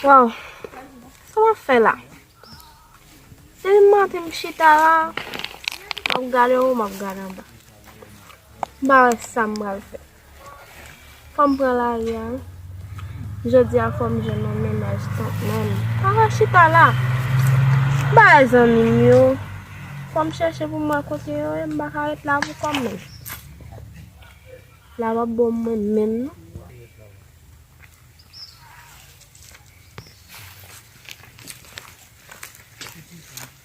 Waw, sa wap fè la? Se li mante m chita la, wap gade ou, wap gade anba. Ba wè sa m bal fè. Fòm pran lari a wi. Jodia fòm jwenn yon mennaj tank menm. Ala chita la. Bay zanmim yo. Fòm chèche poum wè kote yo ye m pa ka ret la pou kòm menm. La pap bon mwen menm non. Thank you.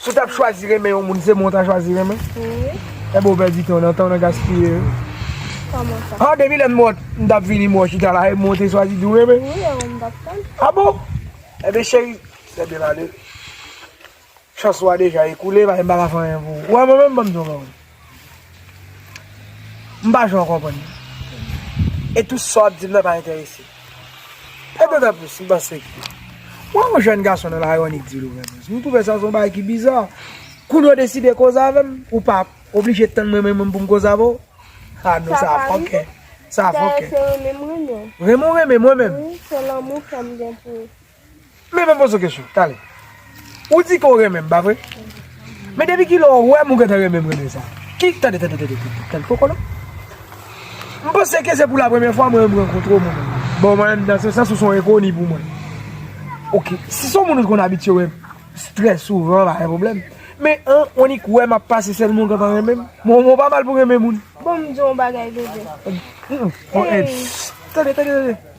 Si w t ap chwazi renmen yon moun, se mwen w ta chwazi renmen? Wi. Enben w pèdi tan w nan, tan w nan gaspiye yo. Kòman sa? Ha, depi lè m mòt, m t ap vini mwen w chita la, e mwen w te chwazi di w renmen? Wi, e ou m t ap tann. A bon? Enben cheri, lè byen ale. Chans ou a deja ekoule, pa m pa ka fè anyen pou ou. Ou wè mwen menm, ban m di w yon bagay. M pa janm konprann li. E tou sa w ap di m nan pa enterese m. Pè Dovèpous, m panse ke w wè yon jèn gason nan lari w annik di Dovèpous. M twouve sa se yon bagay ki biza. Kounye a w deside koze avè m, ou pa oblije tann mwen menm pou m koze avè w. A non, sa fòkè. Sa fòkè. Dayè se renmen m renmen w. Renmen w renmen m mwen menm? Wi, se lanmou kè m gen pou ou. Men mwen poze w kesyon, tale. Ou di ke w renmen m, pa vre? Men depi ki lè w wè m ou gentan renmen m renmen sa? Ki, tande, tande, tande, tande, tande, poko non. M panse ke se pou la premye fwa mwen rankontre w mwen menm. Bon, mwen menm nan se sans ou se yon enkoni pou mwen. Ok, si se yon moun ou te konn abitye wè trè souvan, pa gen pwoblèm. Men, an, w annik wè m ap pase sèlman ou gentan renmen m? Bon, mwen pa mal pou renmen moun. Bon, m di w yon bagay, bebe. Bon, en, tande, tande, tande.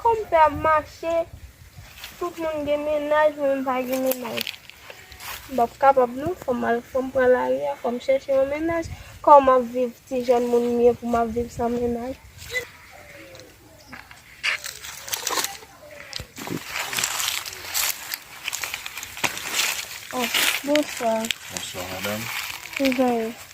Konpè ap mache, tout moun gen mennaj mwen m pa gen mennaj. M pap kapab non, fòm al fòm pran lari a, fòm chèche yon mennaj. Kòman m ap viv ti jèn moun m ye pou m ap viv san mennaj. Bonswa. Bonswa madam. Kijan ou ye?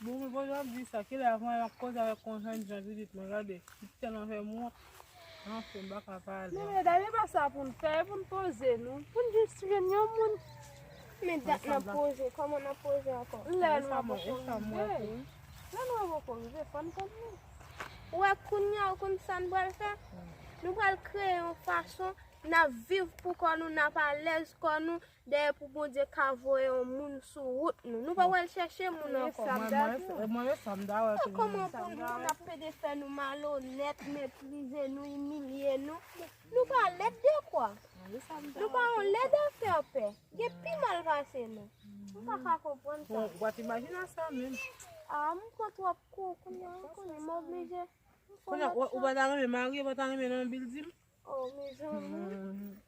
Boul kote wap di sa kilè avm al ap koze avèk konjwen jan judith mwen gade judith tèlman fèm wont anfen m paka pale. Men medam e pa sa poun fè e poun poze nou poun jis jwenn yon moun. Men dat nap poze kòman nap poze ankò. Lè lwa poko rive lè lwa poko rive fòn konn li. Ou wè kounya ou konn sa nou pral fè nou pral kreye yon fason nap viv pou kò nou nap alèz kò nou. Dayè pou Bondye ka voye yon moun sou wout nou, nou pa pral chèche moun ankò. E kòman pou moun ap pede fè nou malonèt, meprize nou, imilye nou? Nou pa lèd dekwa? Nou pa yon lèd afèpè? Gen pi mal pase nou? M pa ka konprann sa. Ou pa t imajine a sa menm. A, m pran twòp kou kounye a, kounye m oblije. Kounye a ou pa ta renmen marye, ou pa ta renmen nan bil di m? O, mezanmi.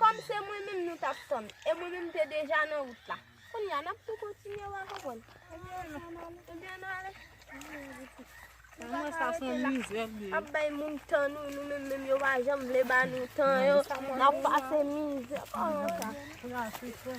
Kòm se mwen menm nou tap tann e mwen menm te deja nan wout la. Kounye a nap tou kontinye wa konprann. Ebyen nou ale. Mwen sa son mizè vre. Ap bay moun tan nou, nou menm menm yo pa janm vle ba nou tan yo. Nap pase mizè. Koman sa?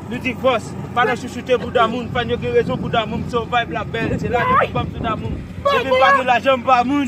Nou di vòs, pa nan chouchoute bouda moun, fan yo gen rezon bouda moun, m se yon vibe la bèl, se la depi banm sou damoum, depi m pa gen lajan m pa moun.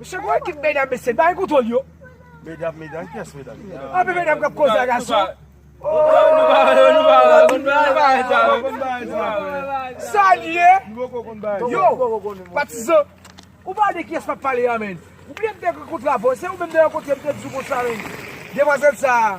Misye gon ekip medam mesye bare kontrol yo. Medam medam kiyès medam. Anpil medam kap koze a gason. Salye. Yo patizan. Ou pale de kiyès map pale a menn. Ou bliye m te kontra avèw se ou menm de yon kote m te di w konsa menn. Demwazèl sa.